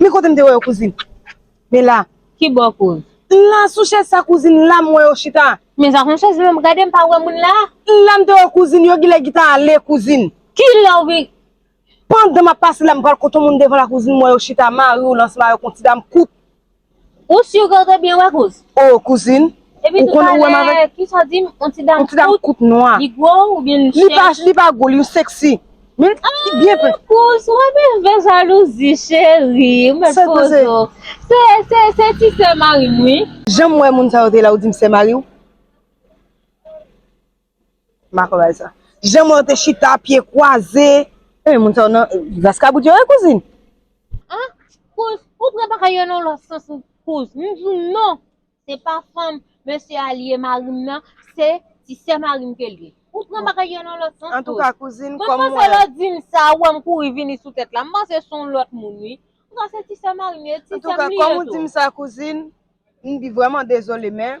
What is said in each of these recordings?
Men kote m te wè yo kouzin. Men la. Ki bò kouz. La sou chèz sa kouzin la m wè yo chita. Men sa kon chèz menm m gade m pa wè moun la. La m te wè kouzin yo gilè ki ta ale kouzin. Ki lè ou vin. Pandan m ap pase la m pral kote yon moun devan la kouzin m wè yo chita mari w lansman yo kon ti dam kout. Ou sur ke w te byen wè kouz? Oh kouzin, ou konnen ou wè m avèk? Epi toutalè, kisa w di m? Yon ti dam kout? Yon ti dam kout nwa. Li gwo oubyen li chèch? Li pa gwo, li sexy. Men li byen plen. Ah kouz, mwen vin fè jalouzi cheri. Ou met pozo. Se ti sè mari m wi. Jan m wè moun sa yo te la ou di m sè mari w? Jan mwen te chita pye kwaze. Enben moun sa yo nan vaskabou yo wi kouzin. Ah kouz ou pran bagay yo nan lòt sans kouz m di w non se pa fanm mesye a li ye mari m nan se ti sè mari m ke l ye ou pran bagay yo nan lòt sans kouz. Antouka kouzin kòm mwen. Mwen panse lè w di m sa ou wè m kouri vini sou tèt la m panse s on lòt moun wi. Antouka se ti sè mari m ye ti sè m li ye tou. Antouka kòm ou di m sa kouzin m vrèman dezole men.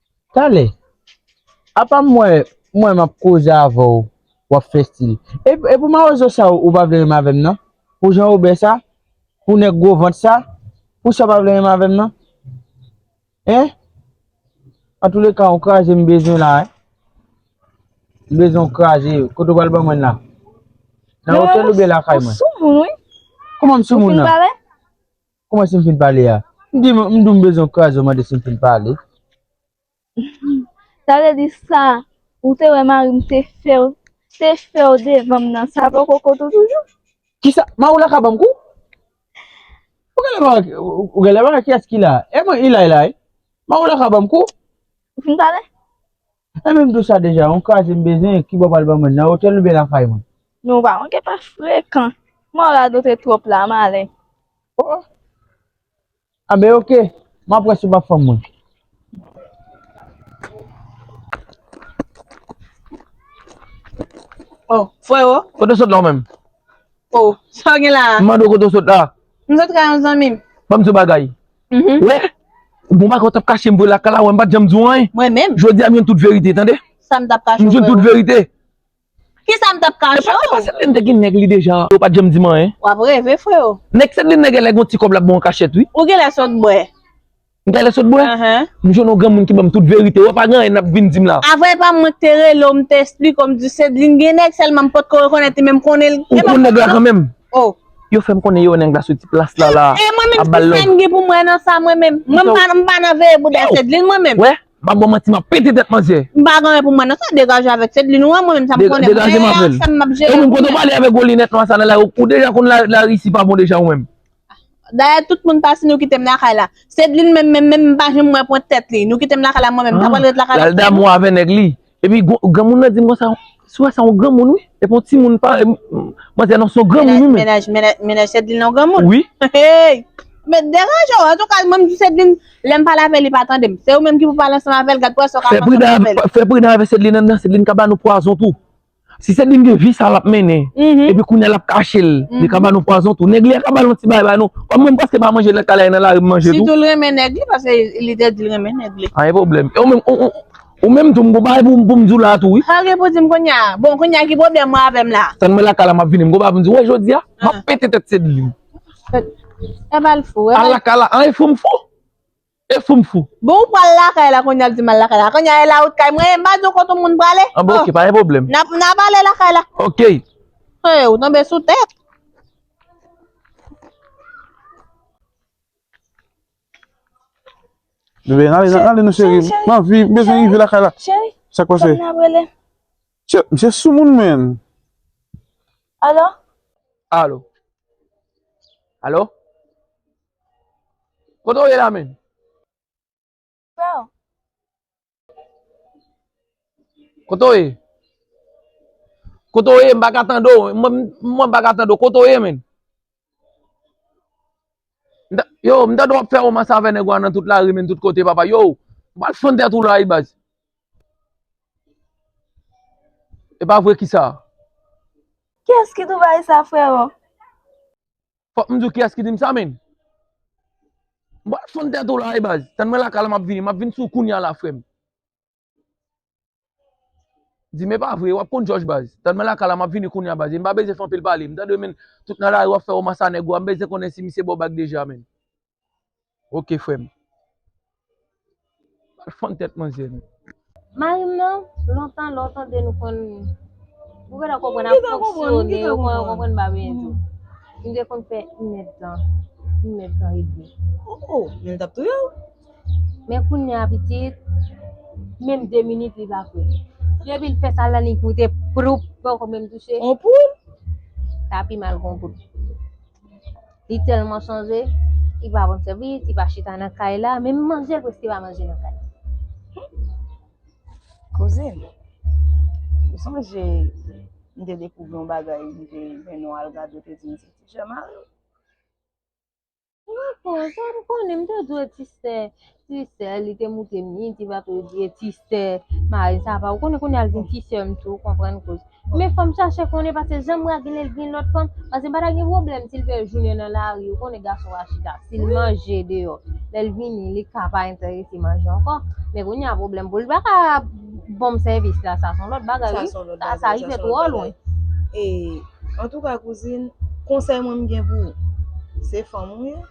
Talè. Apa m wè mwen m ap koze avè w w ap fè stil. E pou mawozo sa ou pa vle renmen avè m nan? Pou jan ou bè sa? Pou nèg gwo vant sa? Pou sa ou pa vle renmen avè m nan? Hein? Antouleka on kraze m bezwen la hein. M bezwen on kraze. Kote ou pral ban mwen l la? Nan otèl oubyen lakay mwen? Ou soumoun wi. Kouman m soumoun nan? Ou fin pale? Kouman si m fin pale a? M di m di w m bezwen w kraze w mande si m fin pale. Sa vle di sa ou te wè mari m te fè w te fè w devan m nan sa poko kont ou toujou? Kisa? Mari w la ka ban m kou? Ou genlè pa wè ou genlè pa wè kiyès ki la? E mwen Ilay la wi. Mari w la ka ban m kou? Ou fin pale? Mwen menm tou sa deja, yon kraze m bezwen, kibò pral ban mwen, nan otèl oubyen lakay mwen? Nou pa manke pa frekan. M'en w radote twòp la, m ale. Oh! Anben ok, m'ap wè si w pap fanm mwen. Oh, freo! Kote w sot la ou menm? Oh, sa w gen la a? M mande w kote w sot la? M sot kay yon zanmi m. Ban m di w bagay, Mhm. Wè, bon bagay ou tap kache m vre lakay la wè m pat janm di w anyen. Mwen menm, Jodi a m jwenn tout verite tande. sa m tap kache M ou jwenn tout frero? verite. Ki sa m tap Epa kache epa ou? Sedline te gen nèg li deja. Ou pat janm di m anyen. W ap reve frero. Nèg Sedline nan genlè gon ti kòb lap ba w an kachèt wi. Ou genlè sot bwè. M genlè sot bwè? Ehe. M jwenn yon granmoun ki ban m tout verite. Wè pa gen anyen nap vin di m la. Avwe pa m mwen k te rele w m te esplike w m di w Sedline gen nèg sèlman m potko rekonèt li men m konnen l. Ou konn nèg la kanmenm. Oh. Yo fèm konnen yo wè nèg la soti plas la la E mwen menm ap bal ki love. sa m gen pou m wè nan sa mwen menm? Mwen m pa m pa nan veye bouda Cedeline mwen menm. Wè, pa bon manti map pete tèt manzè. M pa gen anyen pou m wè nan sa, degaje avèk Cedeline ou an mwen menm sa m konnen Degaje m avèl. sa m ap jere Ou menm pou kote w mwen. pale avèk gwo linèt nwa sa nan lari ou deja konn larisi pa bon deja ou menm. Dayè tout moun pati nou kite m lakay la. Cedeline menm menm menm m pa janm wè pwent tèt li. Nou kite m lakay la mwen menm m ta pral ret lakay la Lal damou avè nèg li. Epi granmoun nan dim konsa, sou wè sa yon granmoun wi, epi yon timoun pa, manzè nan son granmoun wi men. Menaj Sèdlin nan yon granmoun? Wi. Hey! Mèt deranje w, antouka mwen m di Sèdlin lè m pale avè l li pa tande m. Se ou menm ki pou pale ansanm avè l, gad pwazon w ka pran ansanm avè l. Fè pridan avè Sèdlin nan, Sèdlin ka ba nou pwazon tou. Si Sèdlin gen vi sa l ap mennen, epi kounya l ap kache l, li ka ba nou pwazon tou. Nèg li a ka ba l yon ti bagay ba nou, kòm mwen m prèske pa manje nan kay la e nan lari m manje tou. Sitou l renmen nèg li, paske li te di l renmen nèg li. Pa gen pwoblèm. Ou menm tou m gon bagay pou m di w la tou wi. Sa gen pou di m kounya? Bon kounya ki pwoblèm mwen avè m la? Tann mwen lakay la m ap vini m gon bagay pou m di w. Wè jodi a, m ap pete tèt Sedline. E ba l fou. Al lakay la an e fou m fou? E fou m fou? Bon ou pral lakay la kounya l di m al lakay la. Kounya e lawout kay mwen ye m pa di w kote moun prale. An bon ok pa gen pwoblèm. N ap ale lakay la. Ok. Hey ou tonbe sou tèt. Bebe, ale nan, ale nan cheri. Cheri, cheri. Nan, vi, bezwen rive lakay la. Cheri, Sa kwa se? fòk nan brele. Che, mse sou moun men. Alo? Alo? Alo? Kote ou ye la menm? Freo, Kote ou ye? Kote ou ye? M pa ka tande ou. Mwen pa ka tande ou. Kote ou ye men? Yo, m tande w ap fè romans avè nèg ou a nan tout lari men, tout kote papa. Yo, ou pa al fann tèt ou la wi baz. E pa vre kisa? Kiyès ki Dubai sa frero? Fòk m di w kiyès ki di m sa menn. M pral fonn tèt ou la wi baz. Tann mwen lakay la m ap vini. M ap vin sou w kounya la frè m. Di m e pa vre, w ap konn jòj baz. Tann mwen lakay la m ap vini kounya baz. E m pa bezwen fè anpil pale. M tande w menn tout nan lari w ap fè womas a nèg ou a. M bezwen konnen si misye ba w bag deja menn. Ok frem. Al fann tet manzè nou. Marim nan lontan lè w tande nou konn ou gentan konprann ap fonksyone ou konn konprann bagay yo tou. Nou te konn fè 1 èd tan, 1 èd tan e demi. Ohh men li tap touye w. Men kounya pitit menm 2 minit li pa fè. Depi l fè sa la li goute pwoup poko menm touche. On poul? Sa pi mal ke on poul. Li tèlman chanje, li pa konn sèvi, li pa chita nan kay la, menm manje l preske pa manje nan kay la. Kouzin, ou sonje m te dekouvri yon bagay m te men nou al gade te di m se ti jè mari w. Mwen konn, sa m konnen, m te dwe ti sè. Ti sè li te moute mi, ti va tou di e ti sè mari sa va ou konnen kounye al vin ti sè m tou konprann kouz. Men fòm chache konnen pase janm ra gen el gen lòt fanm pase m pa ta gen pwoblèm sil fè jounen nan lari ou konnen gason ra chita sil manje deyò lèl vini li ka pa entèrese manje ankò men kounye a pwoblèm pou li pa ka bonm sèvis la sa son lòt bagay wi sa sa rive twò lwen. E antouka kouzin konsèy mwen m gen pou ou se fanm ou ye.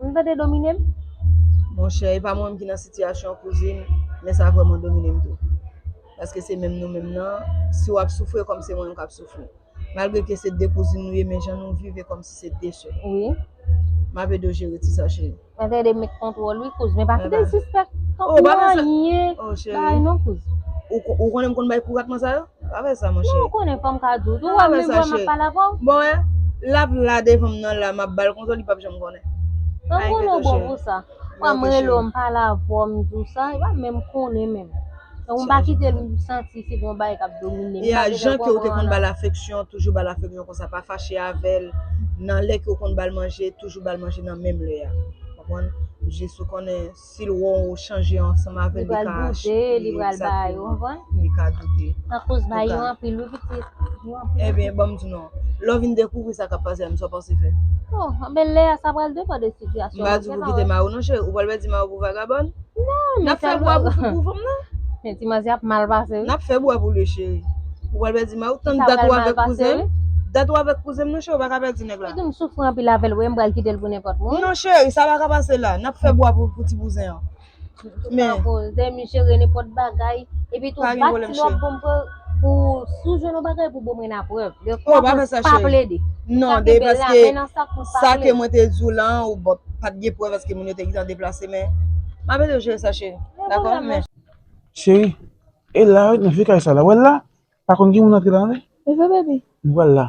Nou tande dominem. Monchè epa mwen menm ki nan sitiyasyon kouzin men sa vrèman dominem tou paske se menm nou menm nan si wap soufri ekòm se mwen menm kap soufri malgre ke se 2 kouzin nou ye men jan nou viv ekòm si se 2 sè wi map edew jere ti sa cheri. Mwen te edem met kontwòl wi kouz men pa kitel sispèk tanpri anyen bay non kouz. Ou konnen m konn bay kou ratman sa yo? Afè sa monchè. Ou konnen fòm ka di w tou. Ou wè menm wè map pale avè w. Bon wè, lap la devan m nan la map bal kontan li pap janm konnen. Mwen konnen w bon pou sa. Wè m rele w m pale avè w m di w sa, li pa menm konnen menm. Donk m pa kite l santi se gon bagay kap domine m. Ya jan ke w te konn bal afeksyon, toujou bal afeksyon konsa pa fache avè l nan lè ke w konn bal manje, toujou bal manje nan menm lè a. Konprann? Jis ou konnen Sil wè w chanje ansanm avèl li ka achte li exactement li ka doute Ebyen banm di nou lè w vin dekouvri sa kap pase a menm sa w panse fè M pa di w pou kite mari w non cheri ou pral pèdi mari w pou vagabòn Nap fè bwa pou fanm nan Nap fè bwa pou li cheri Ou pral pèdi mari w tann dat ou avèk kouzen m dat ou avèk kouzen m non cheri ou paka pèdi nèg la. Nèg la. Li di m soufri anpil avèl wi m pral kitel pou nenpòt moun. Non cheri sa paka pase la nap fè bwa pou ti bouzen an. Tout pa koz de mi jere nenpòt bagay epi tou bat si wap bon pou pou si w jwenn yon bagay pou bom rena prèv de fwa pou pa plede. Non de paske sa ke mwen te di w la ou bòt pat gen prèv paske moun yo te gintan deplase men map ede w jere sa cheri dakò men. Cheri e la wi nan vye kay sa la wè l la pa konn gen moun antre la nan li. Li vre baby. Wè l la.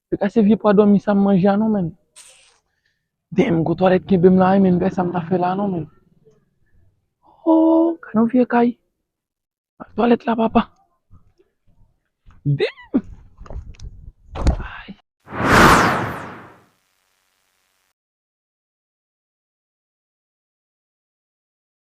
Se ka se vye pwa dòmi sa m manje a non menn. Damn gwo twalèt kenbe m la wi menn gade sa m ta fè la non menn. Ooh gade yon vye kay. Al twalèt la papa. Damn! Ay!